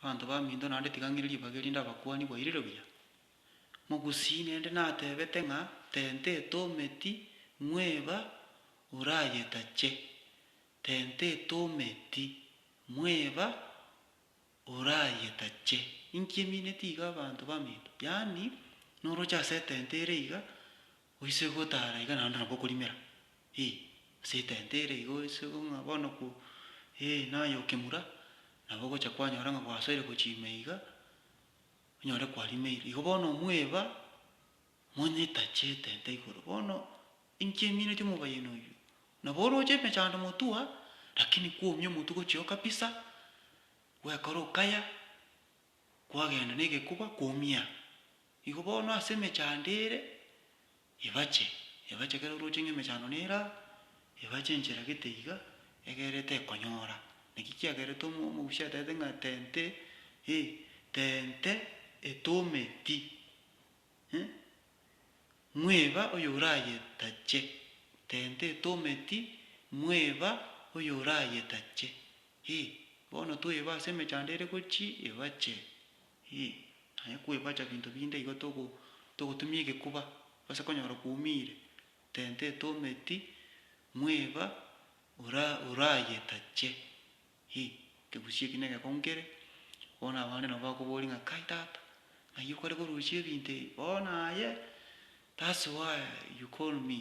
Abanto baminto naende tiga ng'ire ribaga erinde abakuani bairire buya. Mogusii nende natebete ng'a tente etometi mweba orayetache, tente etometi mweba orayetache. Inki emineti iga abanto baminto? Yaani noroche ase etente ere iga Oise gotara iga naende nabo okorimera, ee, ase etenti ere iga oise go ng'a bono ko, ee, naye okemura, nabo ogocha kwanyora ng'a gwasoire gochia ime iga, onyore kwarimeire. Igo bono omweba, monyetache etenti igoro. Bono inche emineti omobayeene oyio, nabo oroche emechando motua, rakini kwomia omotwe gochia okabisa, gwekora okaya, kwagenda na egekuba, kwomia. Igo bono ase emechando ere ebache, ebache ekero orooche ng'a emechando nere aa, ebache enchera gete iga, egere tekonyora. Naki kiagerete omo omogusia ataete ng'a tente, eh, tente etometi, eh, mweba oyorayetache, tente etometi, mweba oyorayetache, eh, bono tweba ase emechando ere gochii ebache, Ee, aye kwebacha binto binde igo togo togotumia egekuba gose konyora kwoumire, tenta etometi, mweba ora orayetache. Ee, ekegusii eki negekong'u kere, bono abande nabo bakoboria ng'a kai tata, ng'ai okare korusia ebinto ebi? Bono aye, that's why you call me.